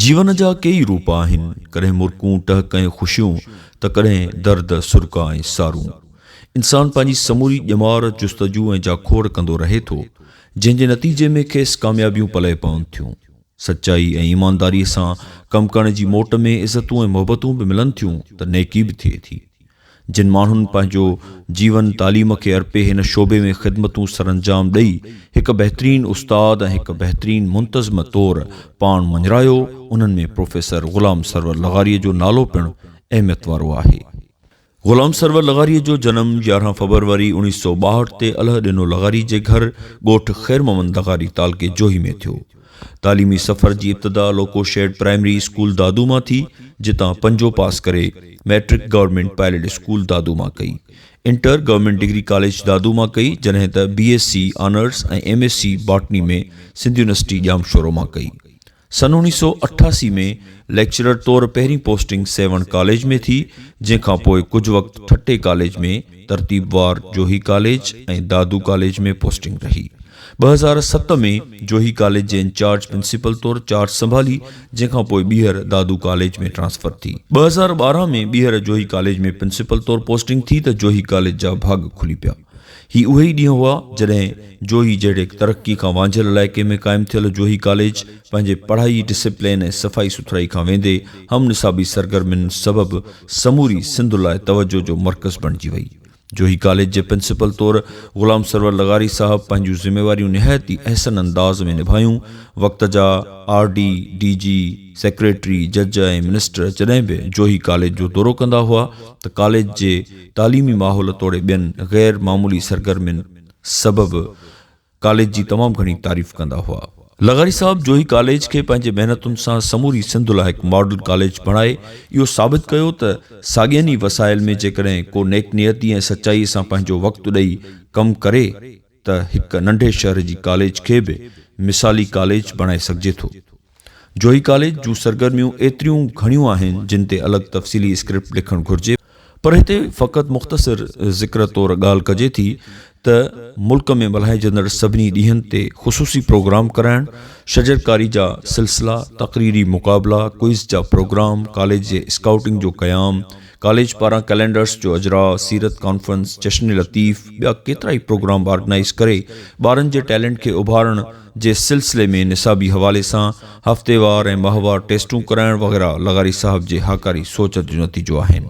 جيون جا ڪيئي روپ آهن، ڪڏهن مرڪون ٽهڪ ۽ خوشيون ته ڪڏهن درد، سرڪا ۽ سارون. انسان پنهنجي سموري ڄمار جستجو ۽ جاکوڙ ڪندو رهي ٿو، جنهن جي نتيجي ۾ کيس ڪاميابيون پلئه پون ٿيون. سچائي ۽ ايمانداريء سان ڪم ڪرڻ جي موٽ ۾ عزتون ۽ محبتون به ملن ٿيون ته نيڪي به ٿئي ٿي. جن ماڻهن پنهنجو جيون تعليم کي ارپي هن شعبي ۾ خدمتون سرانجام ڏئي هڪ بهترين استاد ۽ هڪ بهترين منتظم طور پاڻ مڃرايو انهن ۾ پروفيسر غلام سرور لغاريء جو نالو پڻ اهميت وارو آهي. غلام سرور لغاريء جو جنم يارهن فبروري اوڻيهه سؤ ٻاهٺ تي الهه ڏنو لغاري جي گهر ڳوٺ خير محمد لغاري تعلقي جوهي ۾ ٿيو. تعليمي سفر جي ابتدا loco shed primary school Dadu مان ٿي، جتان پنجون پاس ڪري، matric government pilot school Dadu مان ڪئي. Inter government degree college Dadu مان ڪئي، جڏهن ته B S C honours ۽ M S C botany ۾ Sindh university Jamshoro مان ڪئي. سن اوڻيھ سؤ اٺاسي ۾ ليڪچرر طور پهرين پوسٽنگ سيوهڻ ڪاليج ۾ ٿي، جنهن کان پوء ڪجهه وقت ٺٽي ڪاليج ۾ ترتيبوار Johi college ۽ Dadu college ۾ posting رهي. ٻه هزار ست ۾ جوهي ڪاليج جي انچارج پرنسپل طور چارج سنڀالي، جنهن کان پوء ٻيهر دادو ڪاليج ۾ ٽرانسفر ٿي. ٻه هزار ٻارهن ۾ ٻيهر جوهي ڪاليج ۾ پرنسپل طور پوسٽنگ ٿي ته جوهي ڪاليج جا ڀاڳ کلي پيا. هي اهي ئي ڏينهن هئا جڏهن جوهي جهڙي ترقي کان وانجهيل علائقي ۾ قائم ٿيل جوهي ڪاليج پنهنجي پڙهائي، ڊسپلين ۽ صفائي سٿرائي کان ويندي هم نصابي سرگرمين سبب سموري سنڌ لاء توجهه جو مرڪز بڻجي وئي. جوهي ڪاليج جي پرنسپل طور غلام سرور لغاري صاحب پنهنجون ذميواريون نهايت ئي احسن انداز ۾ نڀايون. وقت جا R D, D G, secretary, جج ۽ منسٽر جڏهن به جوهي ڪاليج جو دورو ڪندا هئا ته ڪاليج جي تعليمي ماحول توڙي ٻين غير معمولي سرگرمين سبب ڪاليج جي تمام گهڻي تعريف ڪندا هئا. لغاري صاحب جوهي ڪاليج کي پنهنجي محنتن سان سموري سنڌ لاء هڪ ماڊل ڪاليج بڻائي اهو ثابت ڪيو ته ساڳين ئي وسائل ۾ جيڪڏهن ڪو نيڪ نيتي ۽ سچائي سان پنهنجو وقت ڏئي ڪم ڪري ته هڪ ننڍي شهر جي ڪاليج کي به مثالي ڪاليج بڻائي سگهجي ٿو. جوهي ڪاليج جون سرگرميون ايتريون گهڻيون آهن جن تي الڳ تفصيلي اسڪرپٽ لکڻ گهرجي، پر هتي فقط مختصر ذڪر طور ڳالهه ڪجي ٿي ته ملڪ ۾ ملهائجندڙ سڀني ڏينهن تي خصوصي پروگرام ڪرائڻ، شجرڪاري جا سلسلا، تقريري مقابلا، ڪوئز جا پروگرام، ڪاليج جي اسڪائوٽنگ جو قيام، ڪاليج پاران ڪئلينڊرس جو اجراء، سيرت ڪانفرنس، جشن لطيف، ٻيا ڪيترائي پروگرام آرگنائيز ڪري ٻارن جي ٽيلنٽ کي اڀارڻ جي سلسلي ۾ نصابي حوالي سان هفتيوار ۽ ماهوار ٽيسٽون ڪرائڻ وغيره لغاري صاحب جي هاڪاري سوچ جو نتيجو آهن.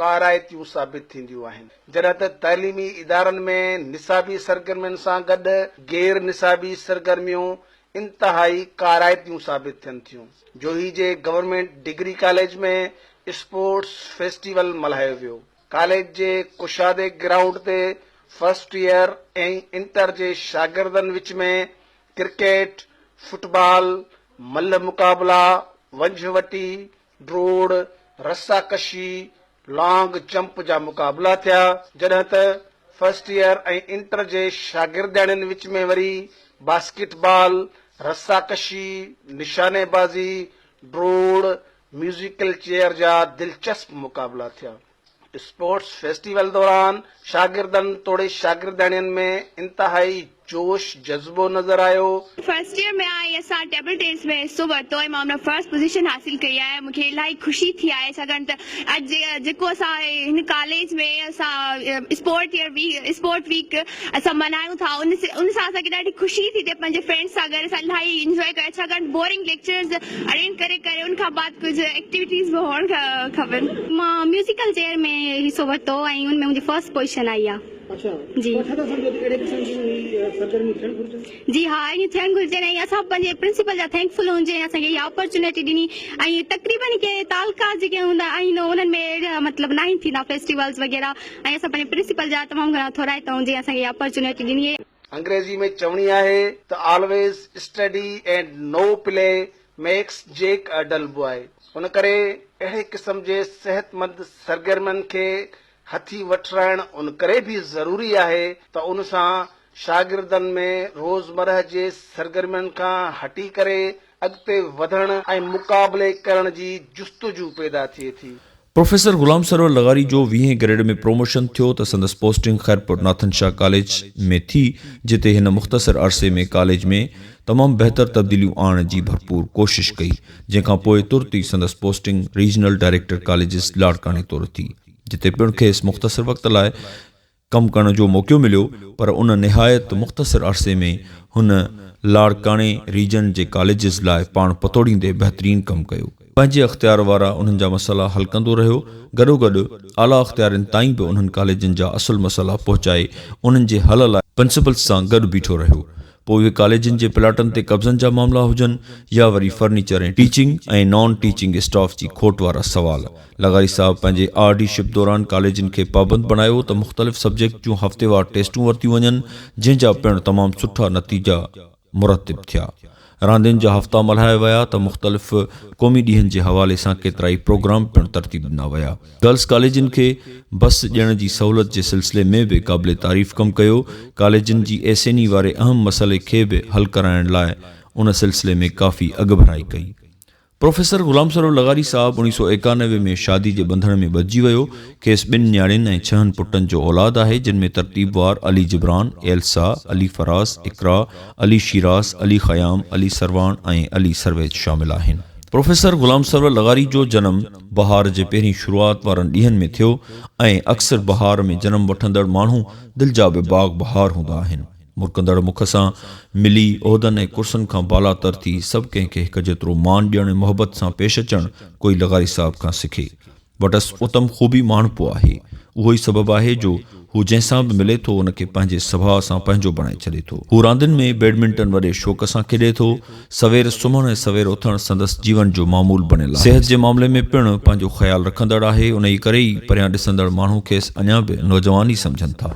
ڪارائتيون ثابت ٿينديون آهن جڏهن ته تعليمي ادارن ۾ نصابي سرگرمين سان گڏ غير نصابي سرگرميون انتهائي ڪارائتيون ثابت ٿين ٿيون جوهي جي government degree college ۾ sports festival ملهايو ويو ڪاليج جي ڪشادي گرائونڊ تي فرسٽ ايئر ۽ انٽر جي شاگردن وچ ۾ ڪرڪيٽ فٽبال ملهه مقابلا ونجهه وٽي ڊوڙ، رسا ڪشي، لانگ جمپ جا مقابلا ٿيا، جڏهن ته فرسٽ ايئر ۽ انٽر جي شاگردياڻين وچ ۾ وري باسڪيٽ بال، رسا ڪشي، نشاني بازي، ڊوڙ، ميوزيڪل چيئر جا دلچسپ مقابلا ٿيا. اسپورٽس فيسٽيول دوران شاگردن توڙي شاگردياڻين ۾ انتهائي جوش جذبو نظر آيو. فرسٽ ايئر ۾ آهيان اسان ٽيبل ٽينس ۾ حصو ورتو ۽ مان ان ۾ فرسٽ پوزيشن حاصل ڪئي آهي مون کي الاهي خوشي ٿي آهي ڇاڪاڻ ته اڄ جيڪو اسان هن ڪاليج ۾ اسان sport year week sport week اسان ملهايون ٿا ان ان سان اسان کي ڏاڍي خوشي ٿي ٿئي پنهنجي فرينڊس سان گڏ اسان الاهي انجوائي ڪيو ڇاڪاڻ بورنگ ليڪچرز اٽينڊ ڪري ڪري ان کان بعد ڪجهه ايڪٽيوٽيز به هئڻ کپن مان ميوزيڪل چيئر ۾ حصو ورتو ۽ ان ۾ منهنجي فرسٽ پوزيشن آئي آهي اڇا جي ڇا ٿا سمجهو ته اهڙي قسم جون هي سرگرميون ٿيڻ گهرجن جي ها اهڙيون ٿيڻ گهرجن ۽ اسان پنهنجي پرنسپل جا ٿينڪ فل هجون جنهن اسان کي اها اپرچونيٽي ڏني ۽ تقريبن ڪي تعلقات جيڪي هوندا آهن انهن ۾ اهڙا مطلب ناهن ٿيندا فيسٽيولز وغيره ۽ اسان پنهنجي پرنسپل جا تمام گهڻا ٿورائتا هوندي اسان کي اها اپرچونيٽي ڏني. انگريزي ۾ چوڻي آهي ته always study and no play makes Jack a dull boy ان ڪري اهڙي قسم جي صحتمند سرگرمين کي هٿي وٺرائڻ ان ڪري به ضروري آهي ته ان سان شاگردن ۾ روزمرهه جي سرگرمين کان هٽي ڪري اڳتي وڌڻ ۽ مقابلي ڪرڻ جي جستجو پيدا ٿئي ٿي. پروفيسر غلام سرور لغاري جو ويهين گريڊ ۾ پروموشن ٿيو ته سندس پوسٽنگ خيرپور ناٿن شاهه ڪاليج ۾ ٿي جتي هن مختصر عرصي ۾ ڪاليج ۾ تمام بهتر تبديليون آڻڻ جي ڀرپور ڪوشش ڪئي جنهن کان پوء ترت ئي سندس پوسٽنگ ريجنل ڊائريڪٽر ڪاليجز لاڙڪاڻي طور ٿي جتي پڻ کيس مختصر وقت لاء ڪم ڪرڻ جو موقعو مليو پر ان نهايت مختصر عرصي ۾ هن لاڙڪاڻي ريجن جي ڪاليجز لاء پاڻ پتوڙيندي بهترين ڪم ڪيو. پنهنجي اختيار وارا انهن جا مسئلا حل ڪندو رهيو، گڏوگڏ اعليٰ اختيارين تائين به انهن ڪاليجن جا اصل مسئلا پهچائي انهن جي حل لاء پرنسپلز سان گڏ بيٺو رهيو. پوء اهي ڪاليجن جي پلاٽن تي قبضن جا معاملا هجن يا وري furniture ۽ teaching ۽ non teaching staff جي کوٽ وارا سوال. لغاري صاحب پنهنجي آر ڊي شپ دوران ڪاليجن کي پابند بڻايو ته مختلف سبجيڪٽ جون هفتيوار ٽيسٽون ورتيون وڃن جنهن جا پڻ تمام سٺا نتيجا مرتب ٿيا. راندين جا هفتا ملهايا ويا ته مختلف قومي ڏينهن جي حوالي سان ڪيترائي پروگرام پڻ ترتيب ڏنا ويا. گرلس ڪاليجن کي بس ڏيڻ جي سهولت جي سلسلي ۾ به قابل تعريف ڪم ڪيو، ڪاليجن جي ايسيني واري اهم مسئلي کي به حل ڪرائڻ لاء ان سلسلي ۾ ڪافي اڳڀرائي ڪئي. پروفيسر غلام سرور لغاري صاحب اوڻيهه سؤ ايڪانوي ۾ شادي جي ٻنڌڻ ۾ ٻڌجي ويو، کيس ٻن نياڻين ۽ ڇهن پٽن جو اولاد آهي جن ۾ ترتيبوار علي جبران، ايلسا، علي فراز، اقرا، علي شيراز، علي خيام، علي سرواڻ ۽ علي سرويچ شامل آهن. پروفيسر غلام سرور لغاري جو جنم بهار جي پهرين شروعات وارن ڏينهن ۾ ٿيو ۽ اڪثر بهار ۾ جنم وٺندڙ ماڻهو دل جا به باغ بهار هوندا آهن. مرڪندڙ مک سان ملي، عهدن ۽ ڪرسن کان بالاتر ٿي، سڀ ڪنهن کي هڪ جيترو مان ڏيڻ ۽ محبت سان پيش اچڻ ڪوئي لغاري صاحب کان سکي. وٽس اتم خوبي ماڻهپو آهي. اهو ئي سبب آهي جو هو جنهن سان به ملي ٿو ان کي پنهنجي سڀاء سان پنهنجو بڻائي ڇڏي ٿو. هو راندين ۾ بيڊمنٽن وڏي شوق سان کيڏي ٿو. سوير سمهڻ ۽ سوير اٿڻ سندس جيون جو معمول بڻيل آهي. صحت جي معاملي ۾ پڻ پنهنجو خيال رکندڙ آهي. انهيء ڪري ئي پريان ڏسندڙ ماڻهو کيس اڃا به نوجوان ئي سمجهن ٿا.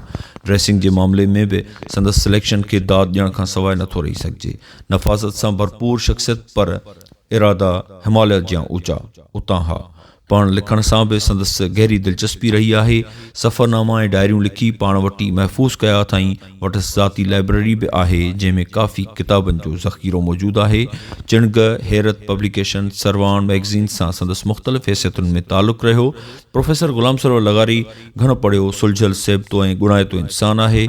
ڊريسنگ جي معاملي ۾ به سندس سليڪشن کي داد ڏيڻ کان سواء نٿو رهي سگهجي. نفاست سان ڀرپور شخصيت پر ارادا هماليا جيان اوچا. اتان اها پاڻ لکڻ سان به سندس گهري دلچسپي رهي آهي. سفرناما ۽ ڊائريون لکي پاڻ وٽ ئي محفوظ ڪيا اٿائين. وٽس ذاتي لائبرري به آهي، جنهن ۾ ڪافي ڪتابن جو ذخيرو موجود آهي. چڻگهه، حيرت پبليڪيشن، سروان مئگزين سان سندس مختلف حيثيتن ۾ تعلق رهيو. پروفيسر غلام سرور لغاري گهڻو پڙهيو، سلجهيل سيبتو ۽ ڳڻائتو انسان آهي.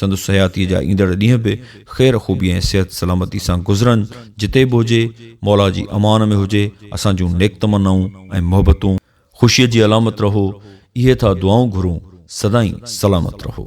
سندس حياتيء جا ايندڙ ڏينهن به خير خوبيء ۽ صحت سلامتيء سان گذرن، جتي به هجي، مولا جي امان ۾ هجي، اسان جون نيڪ تمنائون ۽ محبتون، خوشيء جي علامت رهو، اهي ٿا دعائون گهرون، سدائين سلامت رهو.